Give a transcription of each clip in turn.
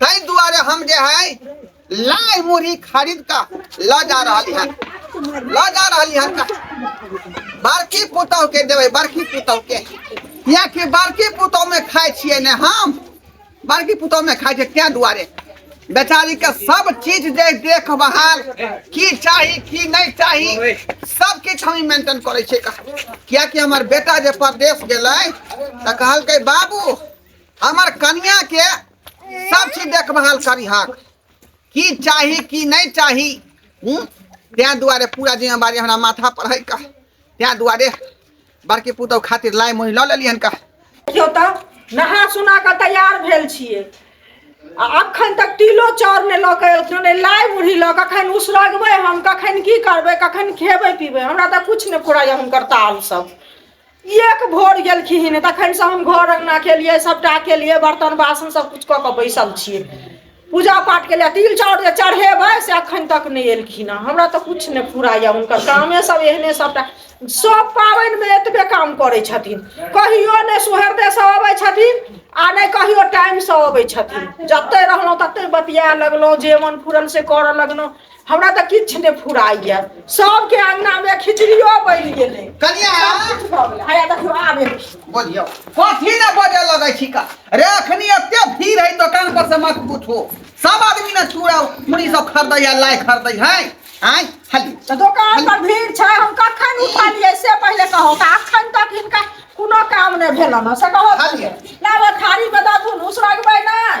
ताहि दुआरे हम जे है लाइ मुरही खरीद का ल जा रहली हन ल जा रहली हन का बड़की पुतौ के देबै बड़की पुतौ के कियाकि बड़की पुतौ में खाइ छियै ने हम बड़की पुतौ में खाइ छियै तें दुआरे बेचारी के सब चीज जे देखभाल की चाही की नहीं चाही सब किछु हम मेंटेन करे छियै का कियाकि हमर बेटा जे परदेश गेलै तऽ कहलकै बाबू हमर कनिया के सब चीज देखभाल करिहक की चाही की नहीं चाही हूँ तैँ दुआरे पूरा जिम्मेवारी हमरा माथा पर है का तैँ दुआरे बड़की पुतहु खातिर लाइ मोहि लऽ लेलियनि का देखियौ तऽ नहा सुना कऽ तैयार भेल छियै आ अखन तक तिलो चाउर नहि लऽ कऽ एलखिन नहि लाइ मुरही लऽ कऽ कखन उसरगबै हम कखन की करबै कखन खेबै पीबै हमरा तऽ किछु नहि फुराइए हुनकर ताल सब एक भोर गेलखिन तखनसँ हम घर अङ्गना केलियै सभटा केलियै बर्तन बासन सभकिछु कऽ कऽ बैसल छियै पूजा पाठ केलियै तिल चाउर जे चढ़ेबै से एखन तक नहि एलखिन हँ हमरा तऽ किछु नहि पूरा यऽ हुनकर कामे सभ एहने सभटा सभ पाबनिमे एतबे काम करै छथिन कहियो नहि सुहरदेसँ अबै छथिन आ नहि कहियो टाइमसँ अबै छथिन जतहि रहलहुँ ततहि बतिया लगलहुँ जे मन फुरल से करऽ लगलहुँ हमरा तऽ किछु नहि फुराइए सभके अङ्गनामे खिचड़ियो बनि गेलै कनिया किछु भऽ गेलै हया देखियौ आब एलखिन। बोलियो कथी ने बजे लगे छी का रे अखनी एते भीड़ है दुकान पर से मत पूछो सब आदमी ने चूड़ा मुड़ी सब खरीदै या लाई खरीदै है आय हली तऽ दोकान पर भीड़ छै हम कखन उठलियै से पहिले कहो तऽ अखन तक हिनका कोनो काम नहि भेलन हँ से कहो हलियै। लाबऽ थारी बता तू उसरगबै नहि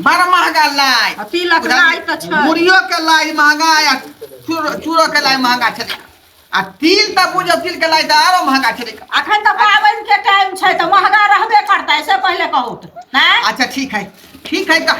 बड़ा महंगा लाई आ तिलक लाई तऽ छै मुड़ियो के लाई महंगा आ चूरो- चूरो के लाई महंगा छै आ तिल तऽ बुझो तिल के लाई तऽ आरो महंगा छै अखन तऽ पाबनि के टाइम छै तऽ महंगा रहबे करतै से पहिले कहू तऽ नहि अच्छा ठीक है ठीक है तऽ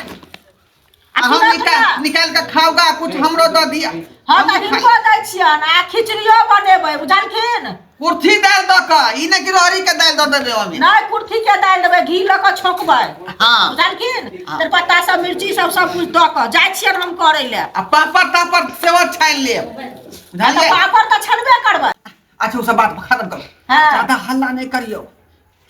आ हम तुरंत निकाल ना। निकाल के खाऊगा कुछ हमरो दऽ दिया हँ हम तऽ खा- हिनको दै छियनि आ खिचड़ियो बनेबै बुझलखिन कुर्थी दालि दऽ कऽ ई नहि कि रहरी के दालि दऽ देबै ओहिमे नहीं कुर्थी के दालि देबै घी लऽ कऽ छोंकबै हाँ बुझलखिन हाँ। तेजपत्ता सब मिर्ची सब सब कुछ दऽ कऽ जाइ छियनि हम करै लए आ पापड़ तापड़ सेहो छानि लेब आ तऽ बुझलियै पापड़ तऽ छनबे करबै अच्छा ओ सब बात खत्म करू हाँ। ज्यादा हल्ला नहि करियौ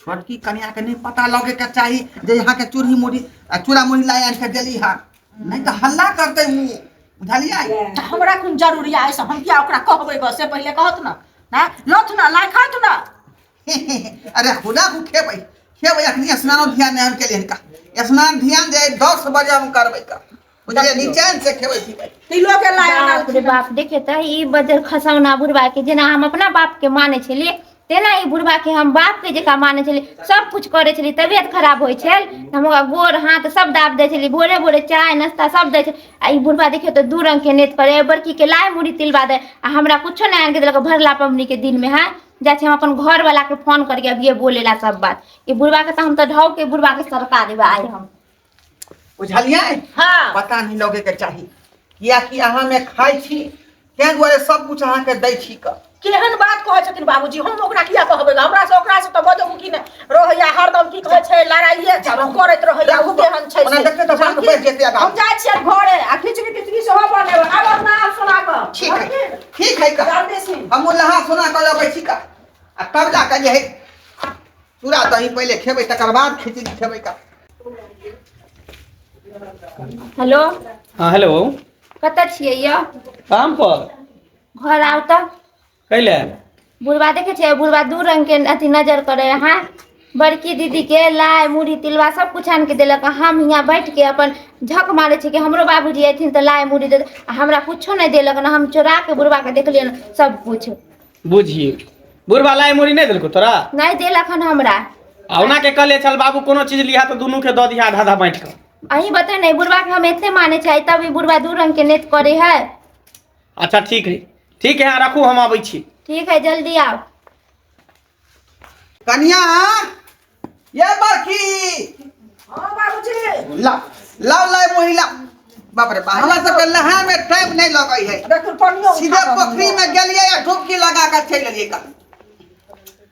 छोटकी कनिया के नहीं पता लगे के चाही जे यहाँ के चूड़ी मुड़ी आ चूड़ा मुड़ी ला आन के देली हा नहीं तो हल्ला करते उ बुझलिया त हमरा कोन जरूरी आइ से हम किया ओकरा कहबै ग से पहिले कहत न ना लथ न लाइ खात न अरे खुदा को खेबै खेबै अखनी स्नान ध्यान हम के लिए का स्नान ध्यान जे 10 बजे हम करबै का बुझलियै देखियौ निचेन से खेबै पिबै तिलो के लाय अनल बाप रे खिना बाप देखे तऽ ई बजर खसौना बुढ़बा के जेना हम अपना बाप के माने छलियै तेना ई बुढ़वा के हम बाप के जका माने छलियै सब कुछ करै छलियै तबियत खराब होइ छै हम ओकरा गोर हाथ सब दाब दै छलियै भोरे भोरे चाय नास्ता सब दै छै आ ई बुढ़बा देखियौ तऽ दू रंग के नैत करे बड़की के लाय मुरही तिलबा दे आ हमरा कुछो नहि आनि के देलक भरला पबनी के दिन मे है जाइ छी हम अपन घर वाला के फोन करके अभिये बोले ला सब बात ई बुढ़बा के तऽ हम तऽ ढौ के बुढ़बा के सरका देबै आइ हम बुझलियै हाँ पता नहि लगैके चाही किएकि अहाँमे खाइ छी ताहि दुआरे सब कुछ अहाँके दै छी कऽ केहन बात कहै छथिन बाबूजी हम ओकरा किया कहबै गे? हमरा से ओकरा से तऽ बजो की ने रहैया हरदम की कहै छै लड़ाइए चलो। करैत रहैया ओ केहन छै ओना से। देखियौ तऽ बात बढ़ि जेतै आगाँ। हम जाइ छियै घरे आ खिचड़ी तिचड़ी सेहो बनेबै आब अपना हाथ सुना कऽ ठीक है ठीक है कह जल्दी से हमहूँ नहा सोना कऽ लबै छी कह आ तब जा कऽ जे है चूड़ा दही पहिले खेबै तकर बाद खिचड़ी खेबै का हेलो हाँ हेलो कतऽ छियै यौ काम पर घर आउ तऽ कैले बुढ़बा देखै छियै बुढ़बा दू रंग के अथी नजर करे अहाँ बड़की दीदी के लाय मुरही तिलवा सब कुछ आन के देलक आ हम यहाँ बैठ के अपन झक मारे छी कि हमरो बाबूजी अयथिन तऽ लाय मुरही दे आ हमरा कुछो नहि देलक ने हम चोरा के बुढ़बा के देखलियै ने सब कुछ बुझिए बुढ़वा लाइ मुड़ी नहि देलकौ तोरा नहि देल अखन हमरा आ ओना के कहले चल बाबू कोनो चीज लिहा तऽ दुनू के दऽ दिहा आधा आधा बाँटि कऽ अहीं बता ने बुढ़वा के हम एते माने चाही तब ई बुढ़वा दू रंग के नेत करे है अच्छा ठीक है ठीक है अहाँ रखू हम अबै छी ठीक है जल्दी आओ कनिया ये बरखी हां बाबूजी ला ला ला महिला बाप रे बाप हमरा सबके नहाय में टाइम नहीं लगै है देखो पानियो सीधे पोखरी में गेलिए या डुबकी लगा के चल गेलिए का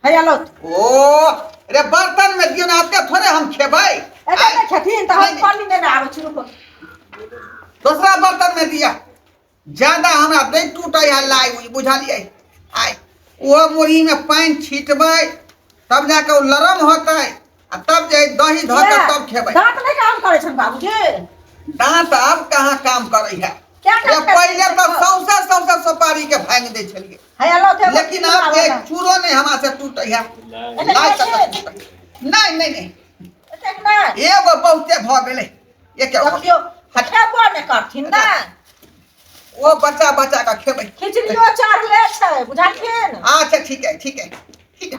है आलो ओ रे बर्तन में दियो ना आते थोड़े हम खेबै एते छथिन त हम पानी में ना आबै छु दूसरा बर्तन में दिया ज्यादा हमरा दै टूटै है लाइ उइ बुझलियै आइ ओ मुरहीमे पानि छिटबै तब जाके ओ लरम होतै आ तब जे दही धऽ के तब खेबै दांत नहीं काम करे छन बाबूजी दांत आब कहाँ काम करै है क्या काम करे पहिले तो सौंसे सौंसे सुपारी के भांग दै छलियै है अल्लाह थे लेकिन आब जे चूरो नहीं हमरा से टूटै है लाइ तक नहीं नहीं नहीं एगो बहुते भऽ गेलै ये क्या हुआ? देखियो हटेबो ने करथिन ने ओ बच्चा बच्चा का खेबै खिचड़ियो चढ़ले छै बुझलखिन अच्छा ठीक है ठीक है ठीक है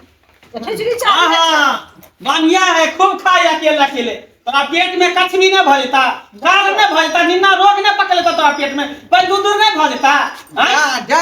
तऽ खिचड़ी हाँ चढ़ले छै। हाँ बढ़िया है खूब खाए अकेले अकेले तोरा पेट में कछ भी न भऽ जेता गाल न भऽ जेता निन्ना रोग न पकड़ लेता तोरा पेट में पैदू दूर न भऽ जेता हाँ? जा जा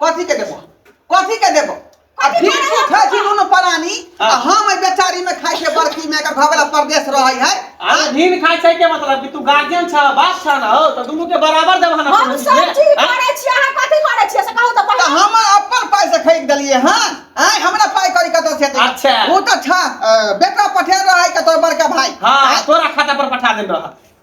कथी के देबो कथी के देबो आ कथी भिक्षु के खाइ छी दुनू परानी आ हाँ। हम एहि बेचारी में खाइ छै बड़की में एकर घबला परदेश रहै है अरे भिन खाइ छै के मतलब कि तू गार्जियन छ बाप छ ना हो त दुनु के बराबर देबह ना हम कोनो सब चीज चीज के? आँय? करै छी अहाँ कथी करै छी से कहू तऽ तऽ पहिले हम अपन पाइ से खरीद देलियै हँ आय हमरा पाइ करी कतऽ से एतै? अच्छा। ओ तऽ छ अ, बेटा पठेल रहै के तोर बड़का भाई हाँ आँय? तोरा खाता पर पठा देन रह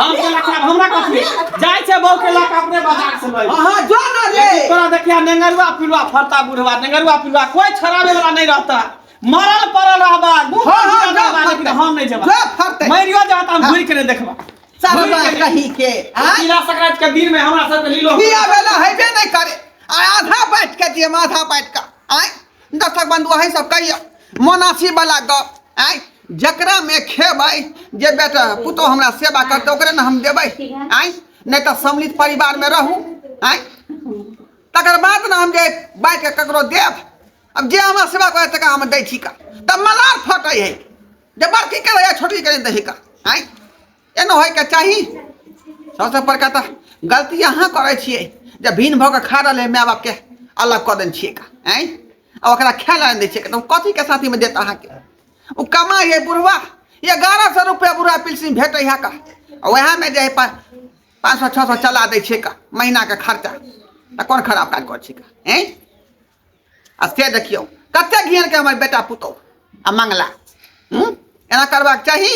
हम के लखा हमरा कथी जाय छै बहु के लखा अपने बाजार से लई हां जो ना रे तोरा देखिया नेंगरुआ पिलुआ फरता बुढ़वा नेंगरुआ पिलुआ कोई छरावे वाला नहीं रहता मरल पड़ल रहबा मुंह हाँ, हाँ, जा, जा, लेकिन जा। हम नहीं जेबा जो फरते मरियो जा त हम घुर के नहीं देखबा सारा घुरि बात के नहीं। कही के आ तिला संक्रांत के दिन में हमरा सब के लीलो बिया बेला हेबे नहीं करे आ आधा बैठ के दिए आधा बैठ के आय दर्शक बंधु अही सब कहिया मोनासी वाला गप आय जकरा में खेबै जे बेटा पुतो हमरा सेवा करते ओकरे ने हम देबै आय नहीं तो सम्मिलित परिवार में रहू आय तकर बाद ने हम जे बाइ के ककरो देब अब जे हमरा सेवा करे तक हम दै छी का तब मलार फटै है जे बड़की करे या छोटी करे दही का आय एना होइके चाही सबसँ बड़का तऽ गलती अहाँ करै छियै जे भिन्न भऽ कऽ खा रहल है माय बापके अलग कऽ देने छियै का आँय आ ओकरा खाय लए दै छियै तऽ कथीके साथीमे देत अहाँके ओ कमाइ है बुढ़वा एगारह सए रुपैआ बुढ़वा पिलसिन भेटै है का ओएहमे जे है पाँच सए छओ सए चला दै छियै का महीनाके खर्चा तऽ कोन खराब काज करै छियै का आँय आ से देखियौ कते घेर के हमर बेटा पुतौ आ मंगला हम्म? एना करबाक चाही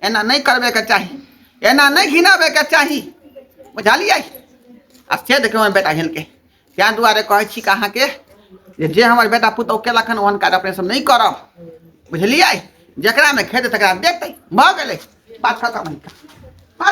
एना नहि करबे के चाही एना नहि घिनाबे के चाही बुझलियै आ से देखियौ हमर बेटा हिलके ताहि दुआरे कहै छी कि अहाँके जे जे हमर बेटा पुतौ केलक हन ओहन काज अपने सब नहि करब बुझलियै जकरामे खेतै तकरा देतै भऽ गेलै बात खतम है